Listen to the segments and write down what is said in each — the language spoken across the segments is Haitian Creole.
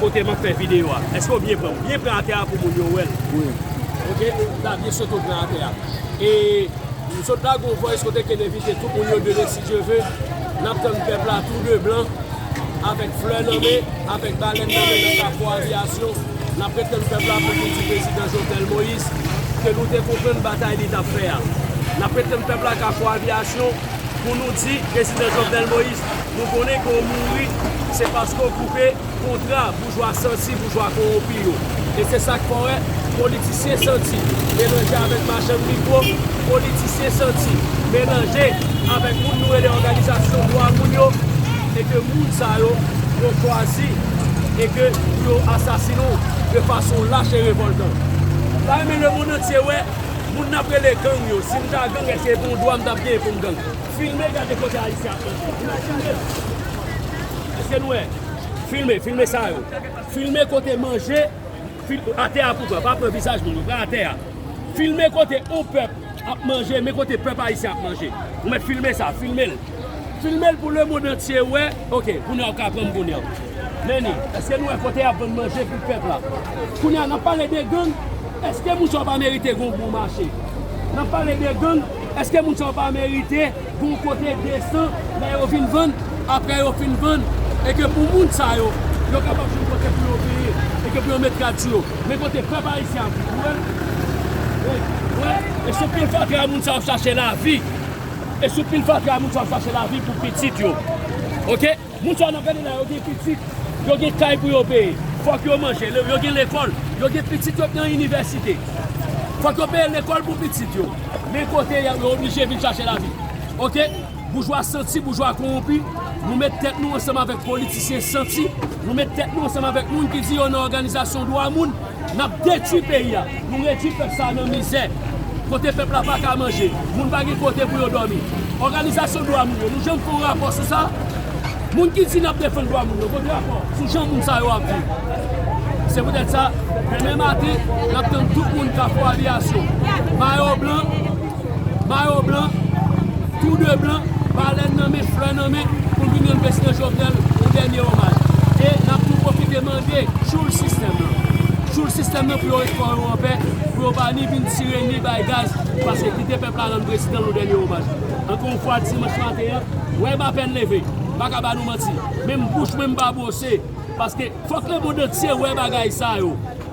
Kote map fè video a. Eske ou byen pranl. Byen pran atè a pou moun yo wèl. Wi. Ok la byen sot ou pran atè a. E m sot la gon voice kote ken envite tout moun yo demen si Dye ve. Nap tann pèp la tou de blan. Avèk flè nan men. Avèk balèn nan men nan kapo avyasyon. Nap ret tann pèp la pou vin di prezidan Jovenel Moïse. Ke nou te konprann batay li tap fè a. Nap ret tann pèp la kapo avyasyon. Pou nou di prezidan Jovenel Moïse nou konnen ke w mouri se paske w koupe kontra boujwa santi, boujwa kowonpi yo. E se sa k fè w wè politisyen santi melanje avèk machann mikwo, politisyen santi melanje avèk moun nou rele òganizasyon dwa moun yo e ke moun sa yo pou w chwazi e ke pou yo asasinen w de fason lach e revòltan. M ta renmen lemond antye wè Moun nap rele gang yo sim ta gang eske se yon dwa m tap genyen poum gang filme gade kote ayisyen ap manje imajine eske nou wè filme filme sa yo filme kote manje atè a pou pran pa pran vizaj moun yo pran atè a filme kote yon pèp ap manje men kote pèp ayisyen ap manje ou met filme sa filmel. Filmel pou le mond antye wè. Ok kounya ou ka pranm kounya. Meni eske nou wè kote yap vann manje pou pèp la. Kounya nap pale de gang eske moun sa yo pa merite gon bon mache. Nap pale de gang eske moun sa yo pa merite gon kote desan lè yo vin vann aprè yo fin vann e ke pou moun sa yo yo kapab jwenn kote pou yo veye e ke pou yo met gad sou yo. Men kote pèp ayisyen ap viv ou wè. Ou wè e se pil fatra moun sa yo ap chache lavi. E sou pil fatra moun sa yo chache lavi pou pitit yo ok moun sa yo nap gade la yo gen pitit yo gen kay pou yo peye fòk yo manje yo gen lekòl yo gen pitit yo k nan inivèsite fòk yo peye lekòl pou pitit yo men kote yo oblije vin chache lavi ok boujwa santi boujwa kowonpi nou met tèt nou ansanm avèk politisyen santi nou met tèt nou ansanm avèk moun ki di yo nan òganizasyon dwa moun. Nap detwi peyi a, nou redwi pèp sa a nan mizè, kote pèp la paka manje, moun pa gen kote pou yo dòmi. Òganizasyon dwa moun yo, nou janm fè yon rapò sou sa? Moun ki di nap defann dwa moun yo, kote rapò sou jan moun sa yo ap viv? Se poutèt sa, demen maten, nap tann tout moun Kafou Aviyasyon, Mayo Blan, Mayo blan, tou de blan, balèn nan men, flè nan men, pou vin rann Prezidan Jovenel yon dènye omaj. E n ap tou pwofite mande tchoul sistèm nan, tchoul sistèm nan pou yo ret kò yo an pè, pou yo pa ni vin tire ni bay gaz, pase kite pèp la rann Prezidan l yon dènye omaj. Ankò yon fwa, dimanch maten an, wè m apèn leve, m pa ka ba nou manti, menm bouch mwen m pa bwose, paske fòk lemond antye wè bagay sa yo.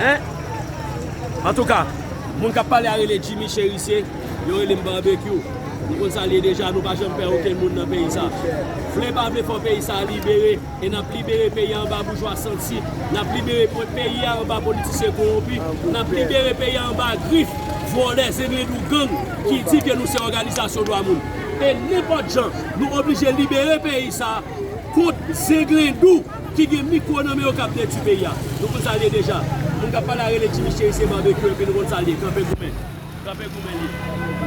Hein Antouka Moun kap pale a rele Jimmy Cherisier Yo relem Barbecue Nou konn sa liye deja nou pa janm pè okenn moun nan peyi sa Vle pa vle fò peyi sa libere E nap libere peyi a anba boujwa santi Nap libere peyi a anba politisyen kowonpi Nap libere peyi a anba grif vòlè zenglendou gang Ki di ke nou se òganizasyon dwa moun E nenpòt jan nou oblije libere peyi sa Kont zenglendou Ki gen mikro nan men yo kap detwi peyi a. Nou konn sal ye deja. Moun kap pale a rele Jimmy cheri se barbecue epi nou konn sal ye kanpe goumen. Kanpe goumen li ye.